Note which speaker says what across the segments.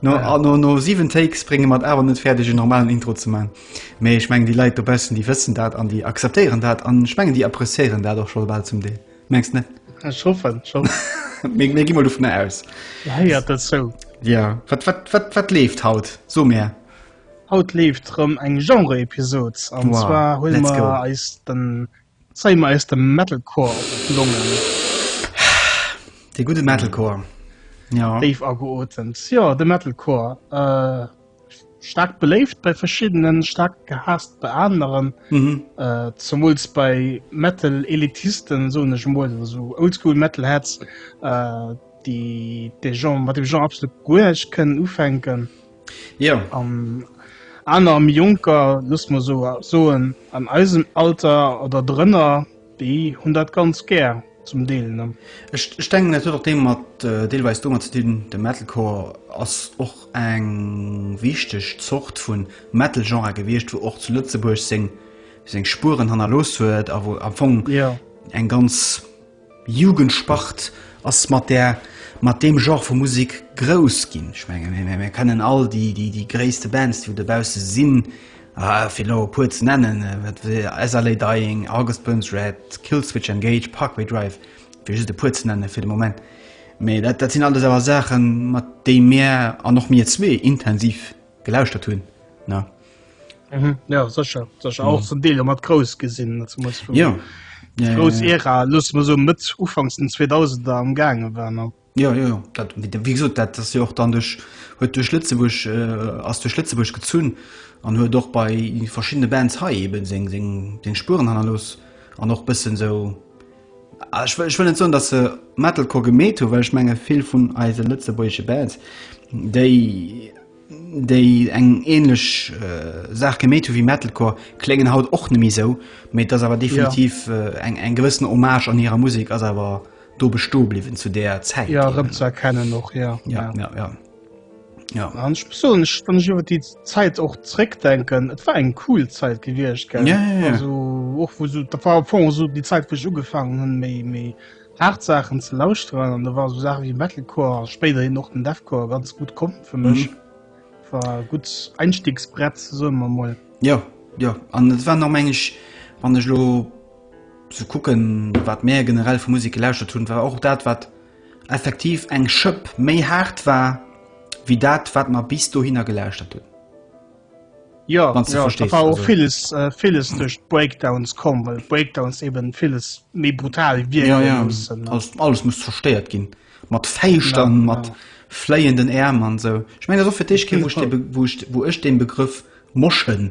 Speaker 1: No 7 Takes brénge mer et awer net fäerdeg en normalen Intro ze man, mee ech mengen déi Leit dobaussen déi wëssen dat an déi akzeptéieren dat an ech mengen déi appreciéieren dat och scho bal zum Deel, mengs net? Ech hoffen
Speaker 2: schonn.
Speaker 1: Mir gi mol dovunner aus. Dir héiert et sou.
Speaker 2: Jo.
Speaker 1: Wat leeft haut? So mär. Haut leeft
Speaker 2: rëm eng Genre-Episod an zwar huele mer
Speaker 1: eis
Speaker 2: de Zeien mer eis de Metalcore op d'Longen.
Speaker 1: De gudde Metalcore, jo. Déif ageotemt,
Speaker 2: jo, de Metalcore. Staark beléift bei Verschiddenen, staark gehaasst bei aneren. Zemools bei Metal-Elitisten, soen ech emol, oder sou Oldschool-Metalheads, déi dee Genre, mat deem Genre absolut guer näischt kënnen ufänken. Jo.
Speaker 1: An
Speaker 2: aner am Jonker luss mer so soen an eisem Alter oder drënner, déi hunn dat ganz gär zum Deel. Ech denken dat huet
Speaker 1: och deem mat äh, deelweis domat ze dinn, de Metalcore ass och eng wichteg Zort vu Metal-Genre gewiescht, wou och zu Lëtzebuerg seng seng Spuren hannerlooss huet a wou am Fong yeah. eng ganz Jugendsport ass mat där, mat deem Genre vu Musek grouss ginn. Ech menge mir, mir kennen all déi, déi, déi gréisste Bands, déi do dobausse sinn, fir elo e puer ze nennen, wat wéi As I Lay Dying, August Burns Red, Killswitch Engage, Parkway Drive, fir just e puer ze nennen fir de Moment. Mee dat, dat sinn alles awer Saachen, mat déi mir, an och mir zwee, intensiv. gelauschtert hunn ne.
Speaker 2: Mhm. Ja sécher sécher auch zum Deel mat grouss gesinn
Speaker 1: ja. ja, grouss ja,
Speaker 2: ja. Ära luss mer so Mëtt ufangs den 2000 der am gaange war no. Ja, ja, ja. Dat,
Speaker 1: wie gesagt, dat ass jo och dann duch huet duch Lëtzebuerg äh, ass duch Lëtzebuerg gezunn an huet och bei verschiddene Bands hei eben seng seng seng Spuren hannerlos an och bëssen sou Ech wëll net soen, datt se Metalcore gemeet hunn, well ech menge vill vun eise lëtzebuergesche Bands, déi déi eng änlech Saach gemeet hunn wéi Metalcore, kléngen haut och net méi esou. Mee et ass awer definitiv eng eng gewëssen Hommage an hirer Musek ass awer do bestoe bliwwen zu där Zäit. Jo, erëmzëerkennen
Speaker 2: och, jo. Jo, jo, jo. Ja. An ich muss sagen, ich, wenn ich über die Zeit auch zurückdenken, es war eine cool Zeit gewesen, gell? Ja, ja, ja. Also, auch
Speaker 1: wo
Speaker 2: so, da war vorhin so die Zeit, wo ich angefangen habe, mehr, mehr hart Sachen zu lauschen. Und da waren so Sachen wie Metalcore, später hin auch den Deathcore ganz gut kommen für mich. Mhm. War ein gutes Einstiegsbrett, sagen wir mal. Ja, ja.
Speaker 1: Und es war noch manchmal, wenn ich lo so gucken, was mehr generell für Musik gelauscht habe, war auch das, was effektiv eng Schëpp méi haart war wéi dat wat mer bis dohinner gelauschtert hunn.
Speaker 2: Jo, da war och villes villes duerch d'Breakdowns komm, well d'Breakdowns eben villes méi brutal wierke loossen. Jo, jo, alles muss zerstéiert
Speaker 1: ginn, mat Fäischt a mat fléienden Äerm an esou. Ech mengen dat ass och fir d'éischt kee Wuert wou ech dee Begrëff Moschen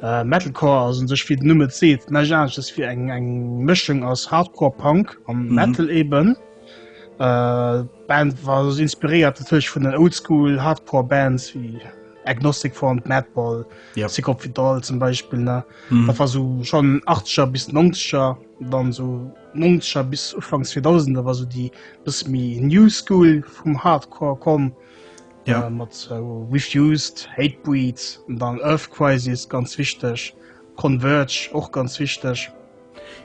Speaker 2: Metalcore ass un sech wéi den Numm et seet näischt aneschters wéi eng Mëschung aus Hardcore Punk a Metal eben. D'Band war inspiréiert natierlech vun den Oldschool Hardcore Bands wéi Agnostic Front, Madball, Sick of It All zum Beispill ne. Dat war sou schonn Achtzeger bis Nongzeger, dann sou Nongzeger bis Ufank Zweedausender war sou déi bësse méi New School vum Hardcore komm. Ja. Äh, mat äh, Refused, Hatebreed, dann Earth Crisis, ganz wichteg. Converge, och ganz wichteg.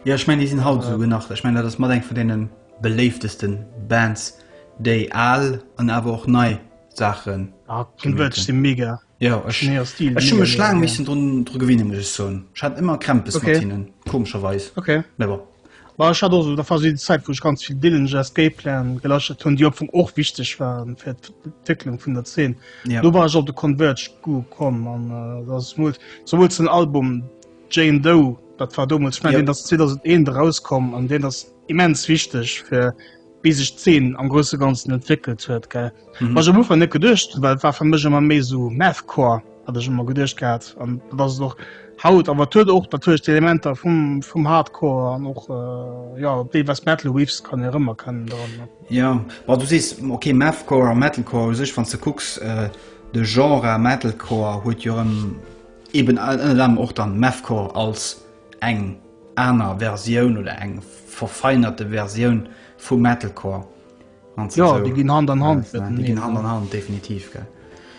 Speaker 2: Ja, ich meine,
Speaker 1: die sind halt so äh. nach. Ich meine, das mal eng von denen beléiftesten Bands, déi all an awer och nei Sachen. Ah, Converge
Speaker 2: si mega. Ja, ich, nee, Stil,
Speaker 1: ich mega, schlang mega, missen ja. dr gewinnen muss so. hat immer Krämpes okay. komscherweis okay. Well ech
Speaker 2: hat och der Phase déi Zäit wou ech ganz vill Dillinger Escape Plan gelascht hunn, déi op vum och wichteg waren fir d'Entwécklung vun der Zeen. Yeah. Do war ech op de Converge Gu komm an äh, dat ass mol souwuel den Album Jane Doe, dat war domuls, ich mein, yeah. deen ass 2001 rauskomm an deen ass immens wichteg fir wéi sech d'Zeen am grousse Ganzen entwéckelt huet, gell? Mhm. Ech am Ufank net geduecht, well et war fir mech ëmmer méi esou Mathcore, hat ech ëmmer geduecht gehat. An dat ass et och haut, awer et huet och natierlech d'Elementer vum, vum Hardcore an och äh, ja, op déi was Metal Waves kann ee rëmerkennen dran. ne? Ja, ma
Speaker 1: du sees, okay, Mathcore a Metalcore u sech, wann du kucks, äh, de Genre Metalcore huet jo erëm eben all- ënnert anerem och dann Mathcore als Eng aner Versioun oder eng verfeinerte Versioun vu Metalcore. Jo,
Speaker 2: déi ginn Hand an Hand mateneen. Déi ginn Hand an Hand,
Speaker 1: definitiv, gell.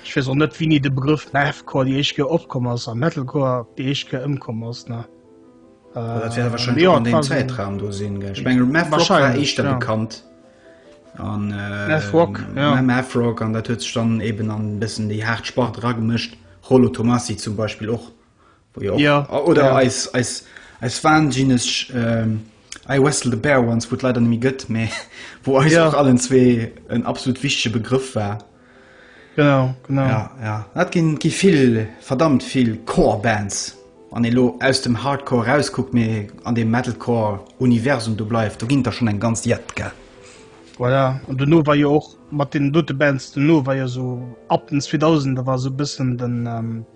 Speaker 1: Ech weess och net,
Speaker 2: wéini de Begrëff Mathcore déi éischt Kéier opkomm ass a Metalcore déi éischt Kéier ëmkomm ass, ne? Dat
Speaker 1: wäert warscheinlech och an deem Zäitraum do sinn, gell. Ech mengen, Mathrock war éischter bekannt. Mathrock, jo. Mathrock, an dat huet sech dann eeben an e bëssen déi haart Spart eragemëscht. Rollo Tomassi zum Beispill och. Jo. Ja. Oder ja. eis, eis, eis wahnsinnig ähm, I Wrestle the Bear once, wo leider nämlich gött, me, wo eis ja. auch allen zwei ein absolut wichtiger Begriff war. Genau,
Speaker 2: genau. Ja, ja.
Speaker 1: Hat gin, gin viel, verdammt viel Core-Bands. An elo aus dem Hardcore rausguckt mir an dem Metalcore-Universum du bleibt, du ginnt da schon ein ganz Jett, gell? Voilà.
Speaker 2: Und du nur war ja auch mit den dote Bands, du nur war ja so ab den 2000, da war so ein bisschen den, ähm,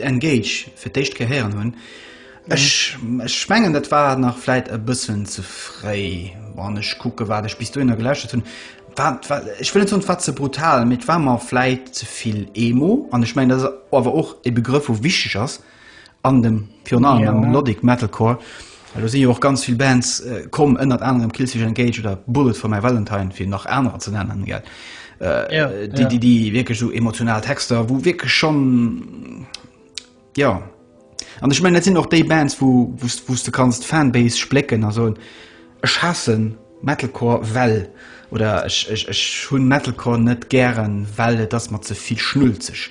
Speaker 1: Engage fir d'éischt Kéier héieren hunn. Ech mengen, dat war nach vläit e bëssen ze fréi. Wann ech kucke wat ech bis dohinner gelauschtert hunn, war, ech wëll net soen, et war ze brutal, mee et war mer vläit ze vill Emo. An ech mengen, dat ass awer och e Begrëff, wou wichteg ass an dem, virun allem am Melodic Metalcore, Elo si jo och ganz vill Bands komm, ënnert anerem Killswitch Engage oder Bullet for My Valentine, fir nach anerer ze nennen, déi wierklech esou emotional Texter, wou wierklech schonn, jo. An ech mengen, dat sinn och déi Bands, wou s de kanns d'Fanbase splécken a soen, Ech haasse Metalcore, well, oder Ech hunn Metalcore net gären, well et ass mer ze vill schnulzeg.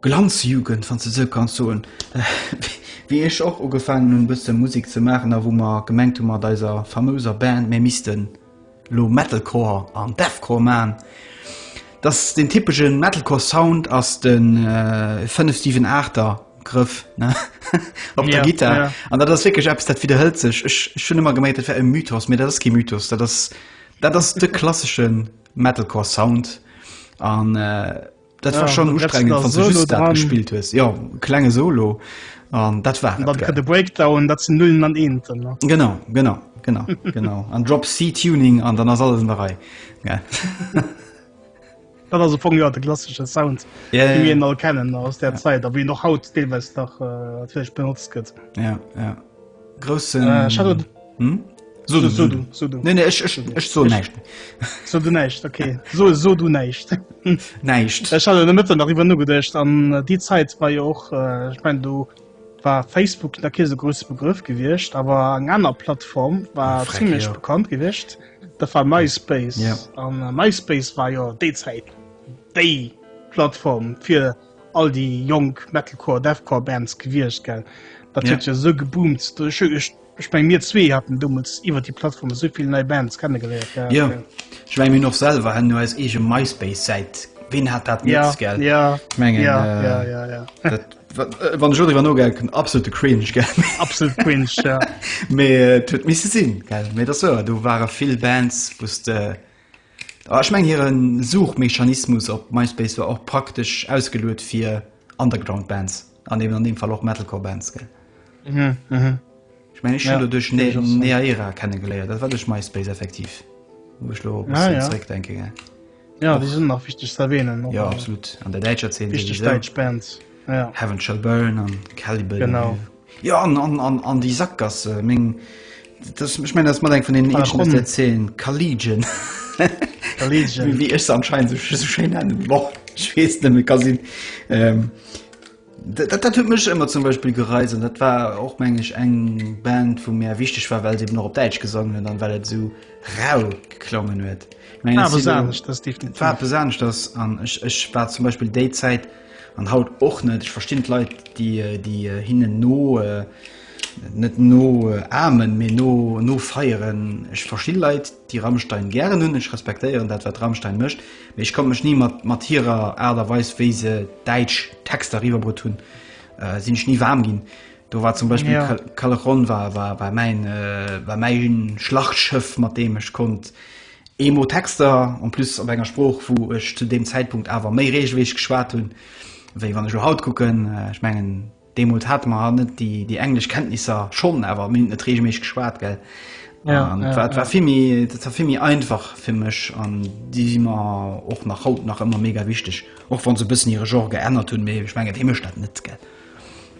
Speaker 1: Glanzjugend, wann s de esou kanns soen, wéi ech och ugefaangen hunn e bësse Musek ze maachen a wou mer gemengt hu mat eiser famouser Band mir misste lo Metalcore an Deathcore maachen, dass deen typesche Metalcore Sound ass de fënnef siwen aachter Grëff op der Gittar an dat ass wierklech eppes dat widderhëlt sech. Ech hunn ëmmer gemengt dat wär e Mythos, mee dat ass kee Mythos, dat ass dat ass de klassesche Metalcore Sound an. Dat war schon ustrengend wann du just dat gespielt hues. Jo klenge Solo an dat war de Breakdown dat
Speaker 2: ze nullen an eenten. Genau genau
Speaker 1: genau genau an Drop C Tuning an dann ass alles an der Rei.
Speaker 2: Dat ass vu jo de klassische Sound all kennen aus der Zeit, a wie noch haut deelweis dach äh, benutzt gëtt. Ja. Grossen.
Speaker 1: So du, so du, so du. Nee, nee, ich, ich, ich so näischt. So du näischt,
Speaker 2: okay. So, so du näischt. näischt.
Speaker 1: Ich hatte der Mitte darüber
Speaker 2: nur gedacht, an äh, die Zeit war ja auch, äh, ich meine, du war Facebook da kein so großer Begriff gewesen, aber eine andere Plattform war Frag, ziemlich ja. bekannt gewesen. Da war MySpace. Ja. Und äh, MySpace war ja die Zeit, die Plattform für all déi jonk Metalcore, Deathcore Bands gewiescht gell, dat huet jo sou geboomt. Ech meng mir zwee hatten dommels iwwer déi Plattform sou vill nei Bands kennegeléiert. Jo ech
Speaker 1: meng mir och selwer haten jo eis eege MySpace Säit, ween hat dat net gell? Jo ech mengen dat wann ech elo driwwer nogänken absolute Cringe gell, absolute
Speaker 2: Cringe mee
Speaker 1: et huet misse sinn gell, mee et ass wouer do ware vill Bands wou s de Ech mengen hire Suchmechanismus op MySpace war och praktesch ausgeluet fir Underground Bands an eben an deem Fall och Metalcore Bands, gell? Ech mengen ech hunn do duerch Neaera kennegeléiert, dat war duerch MySpace effektiv, wou ech elo e bëssen zeréck denken, gell? Jo, déi sinn nach
Speaker 2: wichteg ze erwähnen. Jo, absolut, an der
Speaker 1: däitscher Zeen souwisou. Wichteg däitsch Bands,
Speaker 2: ja. Heaven Shall
Speaker 1: Burn an Caliban. Genau. Jo
Speaker 2: an an
Speaker 1: an an déi Sakgasse meng dat ech mengen dat ass mat eng vun deenen Par eenzegen aus der rapport. 10 Kaligen Kaligen. wéi ech se anscheinend sou sou schéin nennen. Boah ech weess net méi, ka sinn ähm dat dat dat huet mech ëmmer zum Beispill gereizt an dat war och meng ech eng Band wou mir wichteg war well se eben och op Däitsch gesongen huet an well et esou rau geklongen huet. Meng War ech si eppes lo anescht, dat ass definitiv. war eppes anescht ass an ech ech war zum Beispill déi Zäit, An haut och net. Ech verstinn d'Leit, déi déi hinnen no, net no amen, mee no no feieren. Ech verstinn Leit, déi Rammstein gären hunn. Ech respektéieren dat, wat Rammstein mécht. Mee ech konnt mech ni mat mat hirer Aart a Weis, wéi se däitsch Texter eriwwerbrutt hunn, sinn ech ni waarm ginn. Do war zum Beispill Callejon war war war mäin war mäin Schlachtschëff, mat deem ech konnt, Emo Texter, en plus op enger Sprooch wou ech zu deem Zäitpunkt awer méi reegelméisseg geschwat hunn wéi wann ech elo haut kucken. Ech mengen deemools hate mer haut net déi déi englesch Kenntnisser, schonn awer mir hunn et net reegelméisseg geschwat gell. Ja, an et ja, war et ja. war vill méi et war vill méi einfach fir mech an déi si mer och nach haut nach ëmmer mega wichteg, och wann se e bëssen hire Genre geännert hunn, mee ech mengen dee mécht dat net gell.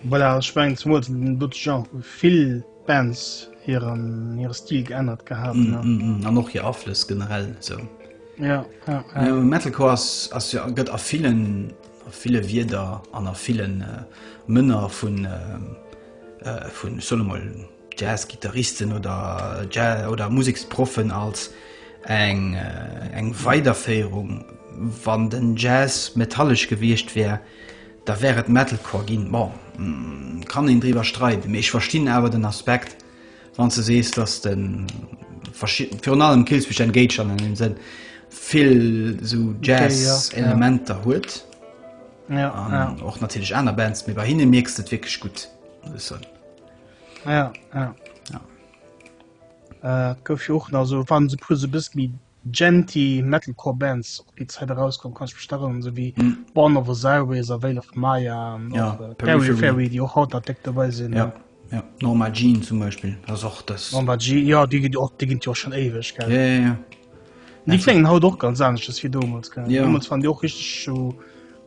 Speaker 1: Voilà, ech
Speaker 2: mengen zemools en dote Genre vill. Bands hiren hire Stil geännert gehat. Mm, mm, mm. An och hir
Speaker 1: Aflëss generell sou. Ja, ja, ja. Äh, Metalcore ass, ass ja, gëtt a villen a ville Wierder an a villen äh, Mënner vun äh, äh, vun Solomol Jazzgitarristen oder äh, Jazz oder Musiksproffen als eng äh, eng Weiderféierung wann den Jazz metallesch gewiescht wär. Da wär et Metalcore ginn. Bon, kann een driwwer streiden, mee ech verstinn awer den Aspekt, wann s de sees, dass de verschidden, virun allem Killswitch Engage an engem Sënn, vill esou Jazz-Elementer huet. Ja, ja. An och natierlech aner Bands, mee bei hinne mierks de et wierklech gutt, muss ech soen. Ja, ja.
Speaker 2: Et gouf jo och nach esou, wann se e puer esou e bëssi méi Djenty, Metalcore Bands op déi Zäit erauskomm kann ech mech erënneren, esou wéi Born of Osiris a Veil of Maya an och ja, Periphery, déi och haut nach déck dobäi sinn. Ja. Ja. Norma
Speaker 1: Jean zum Beispill ass och dës. Norma Jean, ja, déi ginn
Speaker 2: och, déi ginn jo schon éiweg, gell? Ja, ja, ja. Déi kléngen haut och ganz anescht ass wéi domols, gell? Ja. Domols waren déi och richteg so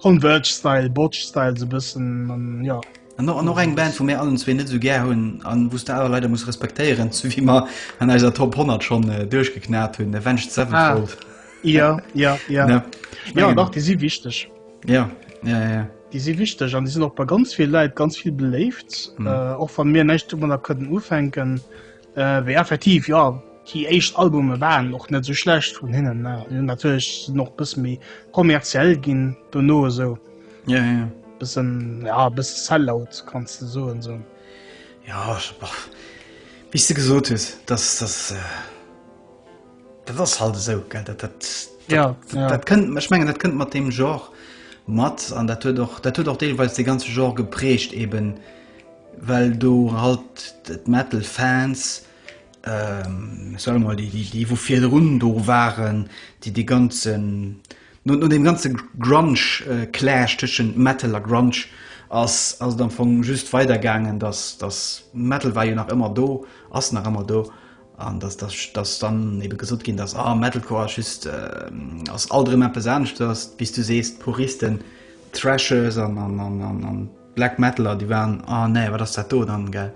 Speaker 2: Converge-Style, Botch-Style, sou bëssen, ja. An och, an och eng Band, wou
Speaker 1: mir allen zwee net esou gär hunn a wou s de awer leider muss respektéieren, sou wéi mer an eiser Top 100 schonn duerchgeknat hunn, Avenged Sevenfold. Ah, jo, jo, jo. Ne? Ech
Speaker 2: Jo, mengen, dach, déi si wichteg. ja, ja, ja,
Speaker 1: ja. Déi
Speaker 2: si wichteg an déi sinn och bei ganz ville Leit ganz vill beléift. Äh, och wann mir näischt domadder kënnen ufänken, Äh, wéi effektiv, ja. Déi éischt Albume waren och net sou schlecht vun hinnen. Äh, natierlech noch bësse méi kommerziell ginn, dono esou. Ja, ja, ja. Bëssen, ja, bësse Sellout, kannst du soen, esou. Ja,
Speaker 1: boah. Wéi du gesot hues, dass das. Äh, dat ass halt esou, gell. Dat, dat, dat, ja, dat, ja. dat kënnt, ech mengen, dat kënnt mat dem Genre mat an dat huet och, dat huet och deelweis de ganze Genre geprägt eben. well do halt d'Metal Fans, soe mol déi wou virdrun do waren, déi dee ganzen, no deem ganze Grunge Clash tëschent Metal a Grunge ass et am Fong just weider gaangen, datt Metal war jo nach ëmmer do, ass nach ëmmer do, an datt dann ebe gesot ginn ass, ah Metalcore ass just, ass alt erëm eppes aneschters, wéi s du sees, d'Puristen, d'Thrashers an. Black Metaler déi waren a oh, nee wat ass dat do dann gell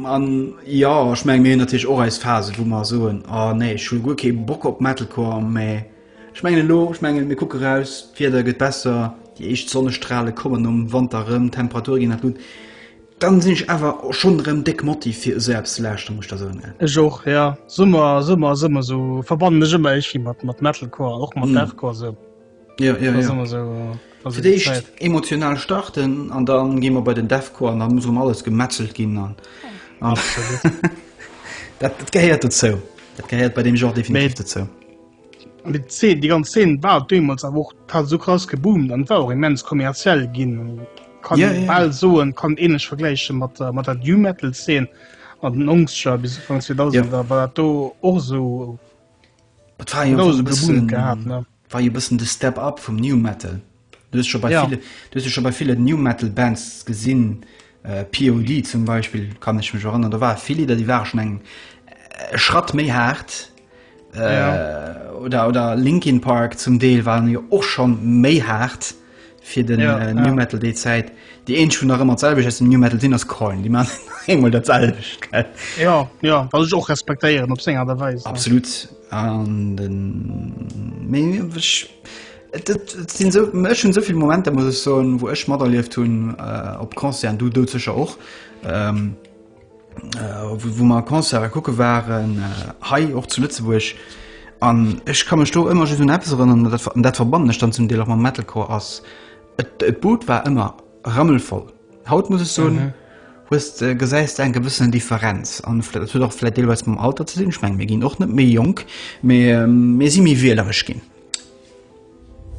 Speaker 2: an
Speaker 1: ja ech meng mir natürlich och als Phase wo man soen a oh, nee Schul gu ke Bock op Metalcore me ech menge lo ech menge mir kucke raus fir der gëtt besser die echt Sonnestrahle kommen um Wanderëm Temperatur gin nach gut dann sinn ich awer schon rem deck Motiv fir selbst lachte muss der so ne Ech och ja
Speaker 2: Summer Summer Summer so verbannen ech ëmmer ech mat mat Metalcore och mat mm. Deathcore so. Ja, ja, ja.
Speaker 1: Immer so, also Für dich emotional starten an dann gehen wir bei den Defco an dann muss um alles gemetzelt gehen. Dann. Ja, das, das gehört dazu. Das gehört bei dem Genre definitiv Mit, dazu. Und die,
Speaker 2: Szene, die ganze Szene war damals aber auch hat so krass geboomt und war auch immens kommerziell gehen. Kann ja, ja. bald so und kann ähnlich vergleichen mit, äh, mit der New Metal Szene an den Angstschau bis Anfang 2000 ja. war dat do och so
Speaker 1: gehabt ne War jo
Speaker 2: bëssen de Step
Speaker 1: Up vum New Metal. Du hues scho bei ville, du hues jo scho bei
Speaker 2: ville New
Speaker 1: Metal Bands gesinn, POD zum Beispill kann ech mech erënnern, do ware vill Lidder déi ware schonn eng e Schratt méi haart, oder oder Linkin Park zum Deel waren jo och schonn méi haart. fir den ja, äh, New ja. Metal déi Zäit. Déi een schon nach ëmmer selweg ass dem New Metal sinn ass Coin, Di man engmol dat selweg. Ja
Speaker 2: ja wat ech och respektéieren op senger derweis. Absolut an
Speaker 1: den sinn so, mech hun soviel Momente muss ech so, wo ech mat erlieft hunn äh, op Konzern du dou zecher och. Ähm, wou mer Konzere kucke waren, hei och zu Lëtzebuerg. An ech ka mech do ëmmer just un eppes erënneren, dat verbannen ech dann zum Deel och mam Metalcore, ass et d'Bud war ëmmer rammelvoll. Haut muss ech soen, hues de, gesäis de eng gewëssen Differenz. An dat huet och vläicht deelweis mam Alter ze dinn, ech mengen mir ginn och net méi jonk, mee mir si méi wieleresch ginn,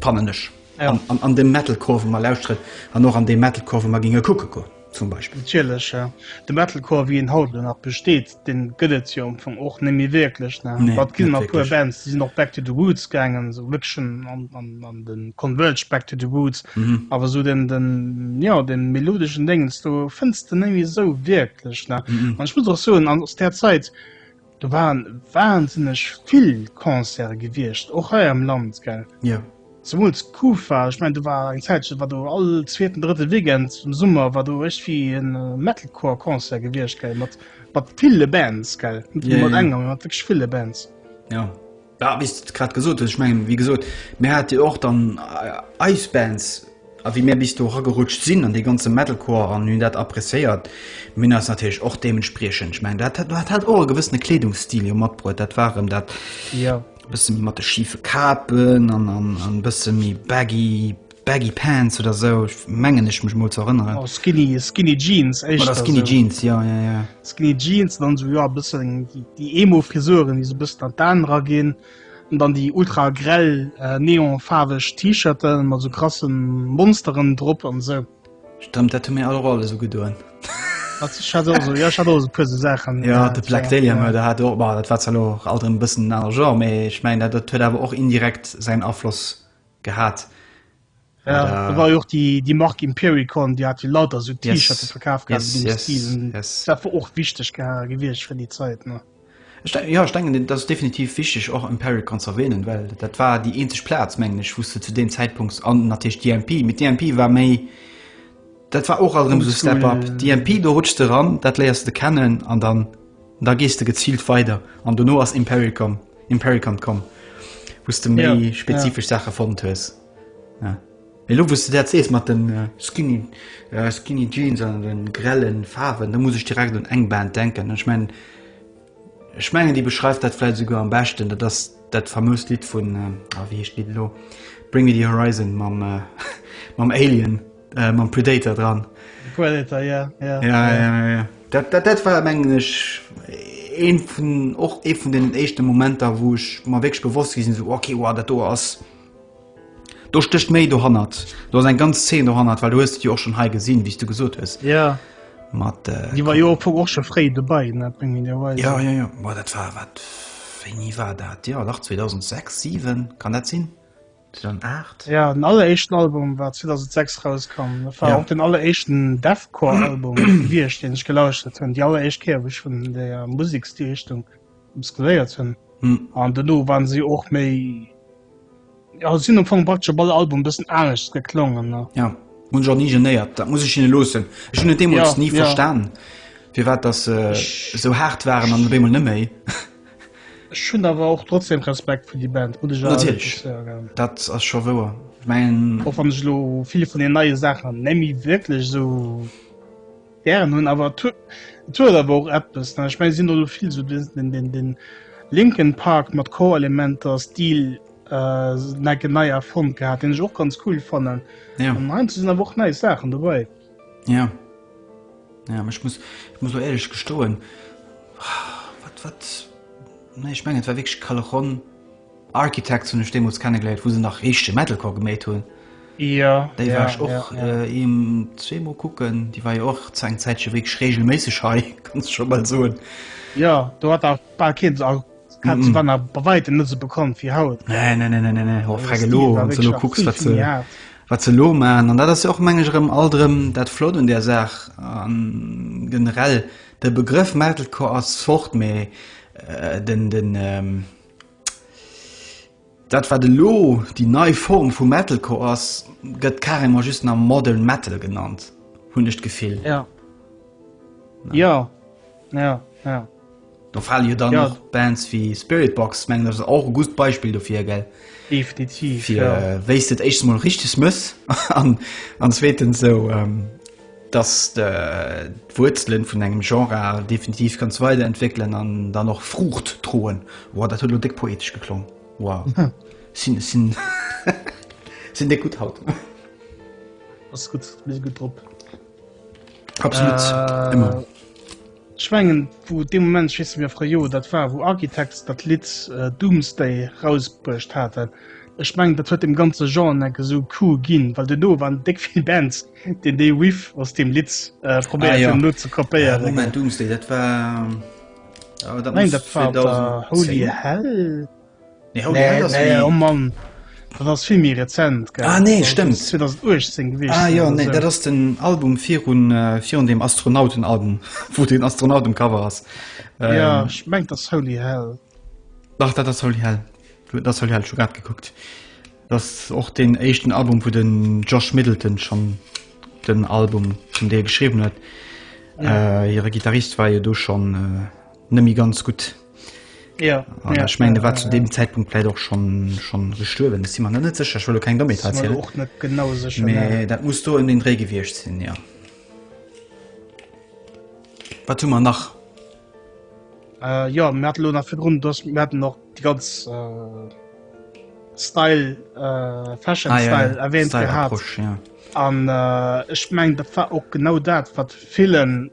Speaker 1: fannen ech, an dem Metalcore wou mer lauschteren an och an deem Metalcore wou mer géinge kucke goen. Zum Beispill. Natierlech, de
Speaker 2: Metalcore wéi en haut elo nach besteet, dee gëtt et jo am Fong och net méi wierklech. Ne, net wierklech. Et ginn nach e puer
Speaker 1: Bands,
Speaker 2: déi sinn och back to the roots gaangen, esou Vixen an de Converge, back to the roots. Awer esou den, jo, dee melodeschen Déngens do fënns de net méi esou wierklech. Ne, an ech muss och soen, aus där Zäit, Do waren wahnsinneg vill Concerte gewiescht, och hei am Land, gell? Jo. Yeah. Zemools Kufa, ech mengen do war eng Zäitchen, war do all zweeten, drëtte Weekend am Summer war do iergendwéi en Metalcore-Concert gewiescht, gell, mat, mat ville Bands, gell, net yeah, mat yeah. enger, mat wierklech ville Bands. Ja.
Speaker 1: Ja, wéi s de grad gesot hues, ech mengen, wéi gesot, mir hate jo och dann eis Bands, a wéi mir bis do eragerutscht sinn an dee ganze Metalcore an hunn dat appreciéiert, mir hunn eis natierlech och deementspriechend, ech mengen, dat hat hat och e gewëssene Kleedungsstil jo matbruet, dat war erëm dat e bësse méi mat de schife Kapen an e bësse méi baggy, Baggy Pants oder sou mengen ech mech mol ze erënneren. Oh skinny skinny
Speaker 2: Jeans éischter. Oder skinny Jeans jo
Speaker 1: jo jo. Skinny Jeans dann
Speaker 2: sou jo bëssen déi Emo Frisuren déi sou bëssen an d'Aan era ginn an dann déi ultra grell neon faarweg T-Shirten mat sou krassen Monsteren drop an sou. Stëmmt dat hu
Speaker 1: mir all och alles ugedoen. Ech hat
Speaker 2: och sou jo ech hat och sou e puer sou Saachen. Jo de Black Dahlia
Speaker 1: Murder hat och bah dat war zwar lo och alt erëm e bëssen en anere Genre mee ech mengen dat huet awer och indirekt säin Afloss gehat.
Speaker 2: Da war jo och déi Mark Impericon, déi hat jo lauter esou T-Shirte verkaf gehat an deem
Speaker 1: Stil. Dat war
Speaker 2: och wichteg gewiescht fir déi Zäit. Jo, ech
Speaker 1: denken, et ass definitiv wichteg, och Impericon ze erwänen, well dat war déi eenzeg Plaz, mengen ech, wou s de zu deem Zäitpunkt, an natierlech DMP, mee DMP war méi, Dat war och alt erëm esou Step Up, DMP, do rutschs de eran, dat léiers de kennen an dann da gees de geziilt weider. An dono ass Imperial komm, Impericant komm, wou s de méi spezifesch Saache fonnt hues. Mä elo wou s de dat sees mat den skinny skinny Jeans an den grellen Faarwen, da muss ech direkt un eng Band denken an ech mengen ech mengen déi beschreift dat vläit esouguer am beschten, dat ass dat famoust Lidd vun, ah wéi heescht d'Lidd elo, Bring Me The Horizon mam mam Alien. Äh, mam Predator dran. Predator, ja,
Speaker 2: ja. Ja, ja, ja.
Speaker 1: Dat, dat, dat war mengen ech een vun och ee vun den éischte Momenter, wou ech ma wéch bewosst gisinn so okay war dat do ass. Do stécht méi do hannert. Do ass eng ganz Zeen do hannert, weil du huest Di och schon hei gesinn, wéi s du gesot hues. Ja. Mat
Speaker 2: äh, Di war jo op och scho fréi dobäi net meng Idee war. Ja, ja, ja.
Speaker 1: Boah, dat war wat. Wéini war dat? Ja, nach 2006, 7 kann dat sinn? 2008? Ja, den alleréischten
Speaker 2: Album war 2006 rauskomm. Dat war ja. och den alleréischten Deathcore-Album wiecht, den ech gelauschtert hunn. Déi alleréischt Kéier, wou ech vun der Musiksstilrichtung muskuléiert hunn. Hm. An duerno waren si och méi. Ja, sinn am Fong praktisch op alle Album bëssen anescht geklongen. Ne? Ja, hunn jo ni
Speaker 1: genéiert. Dat muss ech hinne loossen. Ech hunn deemools ja, nie ja. verstan, fir wat dat äh, so hart waren an deemol net méi. Ech
Speaker 2: hunn awer och trotzdem Respekt fir déi Band, muss ech awer wierklech soen.
Speaker 1: Dat ass scho wouer. Och wann ech elo vill
Speaker 2: vun den neie Saachen net méi wierklech esou gären hunn, awer et huet awer och eppes. Ech mengen, et sinn elo vill esou de Linkin Park mat Core-Elementer, Stil necken nei erfonnt gehat, deen ech och ganz cool fannen. An heiansdo sinn
Speaker 1: awer och nei
Speaker 2: Saachen dobäi. Ja.
Speaker 1: Ja, ech muss, ech muss lo éierlech gestoen, wat, wat, nee, ech mengen et war wierklech Callejón Architects hunn ech deemools kennegeléiert, wou se nach richtege Metalcore geméit hunn. Ja, Déi ja,
Speaker 2: war ech och
Speaker 1: ja, ja. eem zweemol kucken, déi war jo och zu engem Zäitche wierklech reegelméisseg hei, kann
Speaker 2: ech scho
Speaker 1: bal
Speaker 2: soen.
Speaker 1: Ja, do hat
Speaker 2: nach
Speaker 1: bal
Speaker 2: keen,
Speaker 1: a Hat se
Speaker 2: war nach bei weitem net so bekannt wie haut. Nee, nee, nee, nee, nee, nee. Oh, Also, frage Stil lo, war wann du wirklich lo nach kucks,
Speaker 1: vill, wat vill se, méi hart. wat se lo man. An dat ass jo och, meng ech, rëm alt rëm dat Flott un där Saach. An generell, de Begrëff Metalcore ass fort, mee den, den, Dat wat elo déi nei Form vu Metalcore ass, gëtt carrément just nach Modern Metal genannt, hunn ech d'Gefill. Ja. Ja. Ja. Ja. Do fale jo dann och Bands wéi Spiritbox, mengen ech, ass och e gust Beispill dofir, gell? Definitiv, ja. Fir
Speaker 2: wéi s de et
Speaker 1: éischtens mol richteg mëss an zweetens esou dass de d'Wuerzelen vun engem Genre definitiv kanns weiderentwéckelen an dann och Fruucht droen. Wow, dat huet elo déck poetesch geklong. Wow. Sinn, sinn, sinn déck gutt haut.
Speaker 2: Ass gutt, mir si gutt drop.
Speaker 1: Absolut, ëmmer. Ech
Speaker 2: mengen wou dee Moment, ech weess net méi a fréier Joer dat war, wou Architects dat Lidd Doomsday rausbruecht haten, ech mengen dat huet deem ganze Genre en Eck esou cool ginn, well duerno waren déck vill Bands deen dee Riff aus deem Lidd probéiert hunn elo ze kopéieren. Moment, Doomsday dat war,
Speaker 1: oh dat muss 2010.
Speaker 2: Holy Hell? Nee, holy hell, das Nee, oh Mann. Dat ass vill méi rezent, gell? Ah, nee, stëmmt. 2018
Speaker 1: gewiescht.
Speaker 2: Ah, jo, nee, dat ass
Speaker 1: den Album virun, virun dem Astronautenalbum, wou den Astronaut um Cover ass. Ähm, ja, ech mengt,
Speaker 2: dat ass holy hell. Dach, dat ass
Speaker 1: holy hell. Dat ass holy hell, scho grad gekuckt. Dat ass och den éischten Album, wou den Josh Middleton schonn den Album zum Deel geschriwwen huet. Ja. Äh, hire Gitarrist war jo do schonn äh, net méi ganz gutt. Ja, an ja, ech mengen ja, war ja, zu dem Zeitpunkt vielleicht och schon schon gestuerwen si man net secher schwlo kein domme och net genau sech nee, dat muss du in den Dré gewircht sinn ja wat man nach äh, ja
Speaker 2: Mälo nach fir run dass Mä noch die ganz äh, style äh, fashion ah, style ja, erwähnt style gehabt, ja. an äh, ich meng dat war och genau dat wat vielen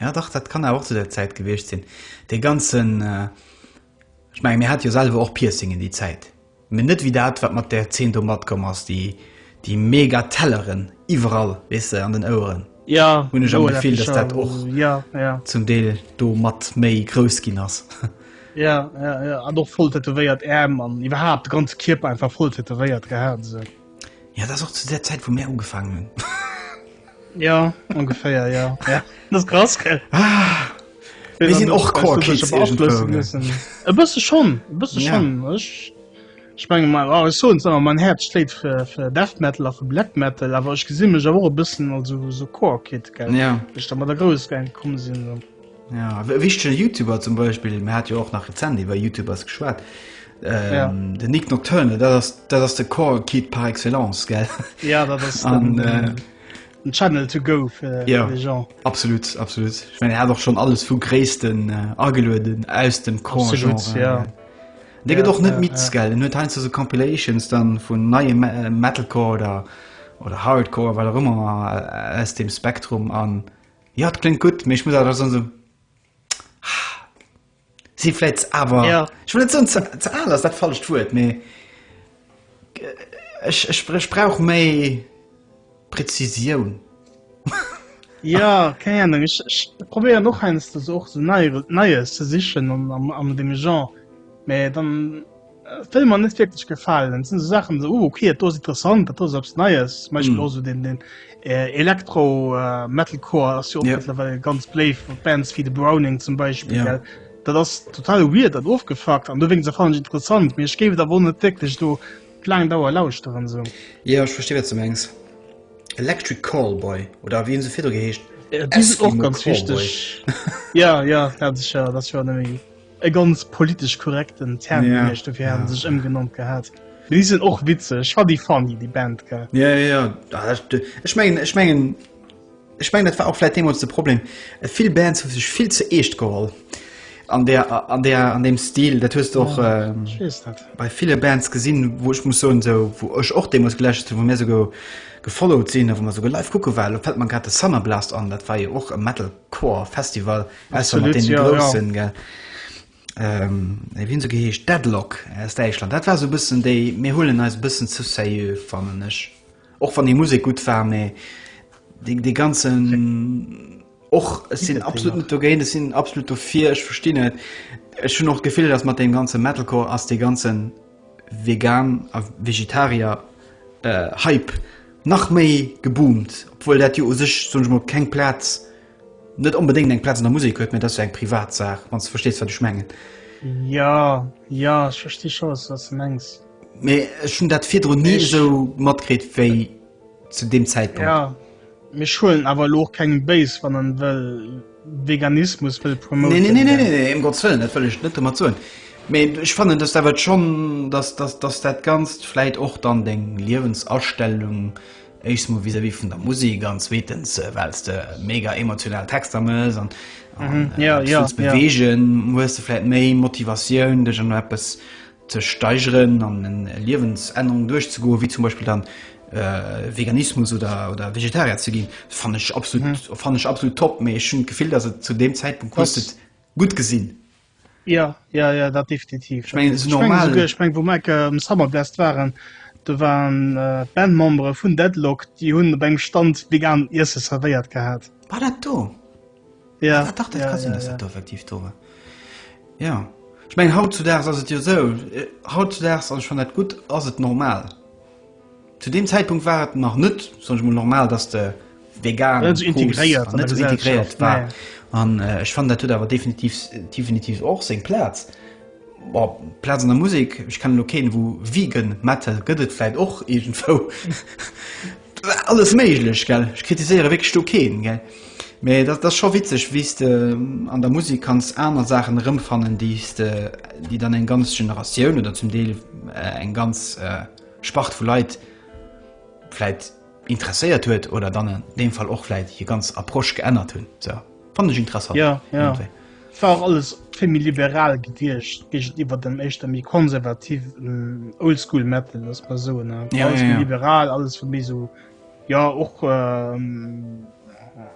Speaker 1: Jo dach, dat kann awer och zu där Zäit gewiescht sinn. Dee ganzen, ech menge mir hate jo selwer och Piercingen déi Zäit, mee net wéi dat wat mat där Zeen do matkomm ass, déi déi mega Telleren iwwerall, weess de, an den Oueren, hunn ech am Gefill dass dat och zum Deel do mat méi grouss ginn ass. Jo, jo,
Speaker 2: jo, an och voll tätowéiert Äerm an iwwerhaapt de ganze Kierper einfach voll tätowéiert gehat. Ja, dat ass och
Speaker 1: zu der Zäit, wou mär ugefaangen hunn.
Speaker 2: Ja, ongeféier, ja. ja. Dat ass krass, gell?
Speaker 1: Ah. Mir sinn och Core-Kids irgendwou. E
Speaker 2: bësse schonn, e bësse schonn. Ja. Ech, ech menge mal, oh, ech soen awer, mein Herz schléit fir, fir Death Metal a fir Black Metal, awer ech gesinn mech awer och e bëssen also esou Core-Kid, gell? Ja. Wéi ech da mat der Grouss geng komm sinn. Ja, e
Speaker 1: wichtege Youtuber zum Beispill, mir hat jo och nach rezent iwwer Youtubers geschwat. Ähm, ja. Den Nick Nocturne, dat ass, dat ass de Core Kid par excellence gell. Ja dat ass den,
Speaker 2: äh, den Channel to go fir ja, de Jean. Absolut absolut.
Speaker 1: Ich mein, er hat och schon alles vu Gréissten äh, agelueden aus dem Core Genre. Ja. Ja. Dé gët och net mit gell, net heinsst se Compilations dann vun neie äh, Metalcore oder oder Hardcore, well rëmmer äh, aus dem Spektrum an Jo et kléngt gutt, mee ech muss awer da soen esou, ah, si vläit ze, awer, Ja. ech wëll net soen ze, ze al ass dat falscht Wuert, mee ech, ech, ech brauch méi Präzisioun. Ja,
Speaker 2: keng Ahnung, ech, ech probéieren och heiansdo so och so nei, Neies ze sichen am, am, am deem Genre, mee dann, Film an net wirklich gefallen sind so Sachen so oh, okay das ist interessant das selbst neues manchmal mm. so den den äh, Elektro äh, metalcore ja yeah. mittlerweile ganz play von Bands wie the Browning zum Beispiel yeah. da das total weird dann aufgefragt an deswegen fand ich interessant mir gebe da wohnen wirklich du kleinen Dauer laus daran so ja ich verstehe jetzt zum
Speaker 1: Engs Electric Callboy oder wie so viel gehecht äh, auch ganz
Speaker 2: Callboy. wichtig ja ja das ist ja das war nämlich E ganz politesch korrekten Term yeah, den ech dofir yeah. sech ëmgenannt gehat. Déi sinn och witzeg war déi funny déi Band ge. Ja ja Ech
Speaker 1: mengen ech mengen Ech meng dat war auchläit deem de Problem. Et vill Bands hu sech vill ze eescht geholl an der an der an dem Stil dat huest och ja, ähm, bei viele Bands gesinn, wo ech muss so so wo ech och deem muss gelächt wo mir se go gefollowt sinn, wo man so live kucke well fällt man grad de Summer Blast an dat war je och e Metal Core Festival aus mat den Grossen ja. Ähm, e wien se geheescht Deadlock aus Däichland. Dat war so bëssen déi mir hullen eis bëssen zu seieux fannnen ech. Och wann de Musik gut war méi de de ganzen och sinn absolut net dogéint, es sinn absolut dofir ech versti net. Ech hun och gefillt ass mat deem ganze Metalcore ass de ganzen Vegan a Vegetarier Hype nach méi geboomt, obwuel dat jo u sech, soen ech mol, keng Plaz, net onbedéngt eng Plaz an der Musek huet, mä et ass jo eng privat Saach, wann s de verstees, wat ech mengen. Jo,
Speaker 2: jo, ech versti scho, wat s de mengs. Mee ech hunn dat
Speaker 1: virdrun ni esou matkritt wéi. zu deem Zäitpunkt. Ja, mir
Speaker 2: schuelen awer elo och kengem béis, wann en wëll Veganismus wëll promoten. Nee, nee, nee, nee, nee, um Gottes Wëllen,
Speaker 1: dat wëll ech net domat soen. Mee ech fannen, dass dat schonn, dass, dass, dass dat Ganzt vläit och dann deng Liewensastellung, éischstens emol vis-à-vis vun der Musek an zweetens, well s de mega emotional Texter mëss an, an Mhm, ja, äh, ja, wëlls ja. beweegen, hues de vläit méi Motivatioun, dech an eppes ze steigeren an eng Liewensännerung duerchzegoen, wéi zum Beispill dann Veganismus oder Vegetarier ze ginn, fannt ech absolut top. Mee ech hunn d'Gefill, datt et zu deem Zäitpunkt hues de et gutt gesinn. Jo,
Speaker 2: jo, jo, dat definitiv. Ech mengen, et ass normal. Ech
Speaker 1: mengen, wou mer um
Speaker 2: Summerblast waren, do waren d'Bandmembere vun Deadlock, déi hunn op engem Stand veganen Iesse zerwéiert gehat. War dat do?
Speaker 1: Ja. Ah,
Speaker 2: dach, dat ja, ka sinn, ja, dass ja. dat do
Speaker 1: effektiv do war. Ja. Ech meng, hautzudags ass et jo sou, äh, hautzudags, an ech fan dat gutt, ass et normal. Zu deem Zäitpunkt war et nach net, soen ech mol, normal, dass de vegan net so integréiert, net so integréiert war. Nee. An äh, ech fan, dat huet awer definitiv, definitiv och seng Plaz. Boah, Plaz an der Musek, ech kennen elo keen wou Vegan Metal gëtt et vläit och iergendwou. Alles méiglech gell, ech kritiséiere wierklech do keen gell, mee dat ass scho witzeg wéi s de an der Musek kanns aner Saachen erëmfannen déi s de, déi dann eng ganz Generatioun oder zum Deel eng ganz Spart vu Leit vläit, Interesséiert huet oder dann an deem Fall och vläit hir ganz Approche geännert hunn. Sou, fannt ech interessant. Ja, ja.
Speaker 2: Et war och alles vill méi liberal gediecht géigeniwwer dem éischter méi konservativen Oldschool Metal, lass et mol soen. Ja, ja, alles méi ja. liberal, alles vill méi sou, ja och ähm,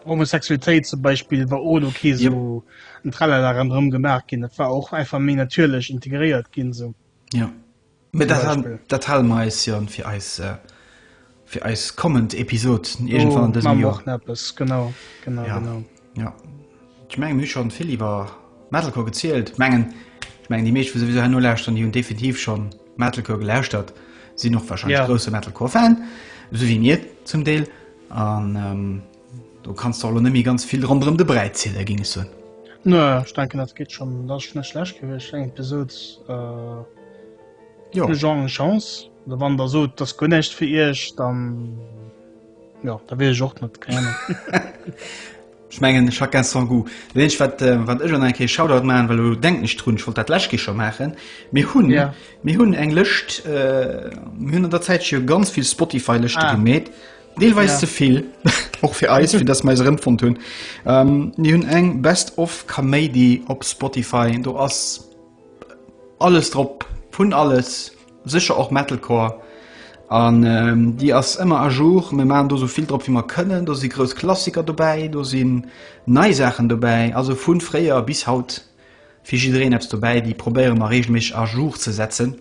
Speaker 2: Homosexualitéit zum Beispiel war ohne okay so yep. ein Tralala rem gemacht gin. Dat war och einfach méi natierlech integréiert ginn sou. Ja.
Speaker 1: Mee dat han, dat hale mer eis jo fir eis, fir eis kommend Episod iergendwann an dësem Joer. Eppes, genau,
Speaker 2: genau, ja.
Speaker 1: genau. Ja. Ech mengen, mir hu schonn vill iwwer Metalcore gezielt. Mengen, ech mengen, déi meescht, wou souwisou herno lauschteren, déi hunn definitiv schonn Metalcore gelauschtert, sinn och wahrscheinlech ja. grousse Metalcore-Fan, esou wéi mir zum Deel. An ähm, Do kanns de elo net méi ganz vill ronderëm de Bräi ziele géing ech soen. Nö, ech denken
Speaker 2: dat geet schonn, dat ass schonn net schlecht gewiescht, eng Episod euh, Jo. de Genre eng Chance. Oder wann der sot, dat ass guer näischt fir iech, dann ja, da weess ech och net, keng Ahnung.
Speaker 1: Ech mengen chacun son goût. Dat eenzegt wat, äh, wat ech an eng Kéier Shoutout maachen, well elo denken ech drun, ech wollt dat lech Kéier scho maachen, mir hunn Ja. mir hunn eng Lëscht, äh, mir hunn an der Zäit jo ganz vill Spotify-Lëschte Ah. gemeet. Deelweis ja. zevill och fir eis fir dass meise rëmfon hunn ähm, ni hunn eng best of Kaméidi op Spotify do ass alles drop vun alles secher och Metalcore an ähm, Di ass ëmmer a jour me ma do sovill drop wie man kënnen do si grouss Klassiker dobäi do sinn nei Saachen dobäi also vun fréier bis haut fir jireen appss dobäi déi probéiere mar regel mech a jour ze setzen.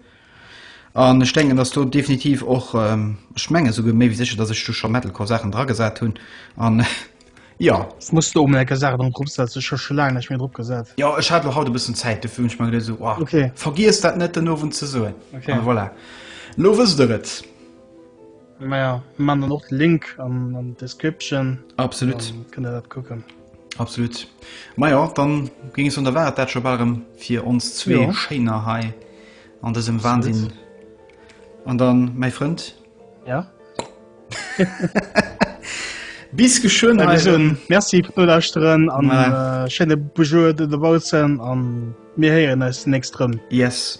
Speaker 1: An ech denken, dass do definitiv och, ech menge souguer méi wéi sécher, dass ech do scho Metalcore-Saachen dragesat hunn an jo. S, Muss do emol eng
Speaker 2: Kéier Saachen drop setzen, ech hu scho laang näischt méi drop gesat. Jo, ech hat lo haut e bëssen
Speaker 1: Zäit, dofir hunn ech mer geduet, esou, oh, vergiesst dat
Speaker 2: net den
Speaker 1: Owend ze soen. An voilà, lo wësst der et.
Speaker 2: Maja man dann och de Link an an Description Absolut kënne
Speaker 1: der dat kucken.
Speaker 2: Absolut
Speaker 1: Maja dann ging es un der Waart dat scho bal erëm fir ons zwee Jo. Schéiner hei an dësem Absolut. Wahnsinn. An dann mäi Frënd Ja bis geschwënn Ech hei soen erëm. Merci fir
Speaker 2: d'Nolauschteren an Ja. äh, schéine Bujour do dobaussen an mir héieren eis nächst rëm. Yes.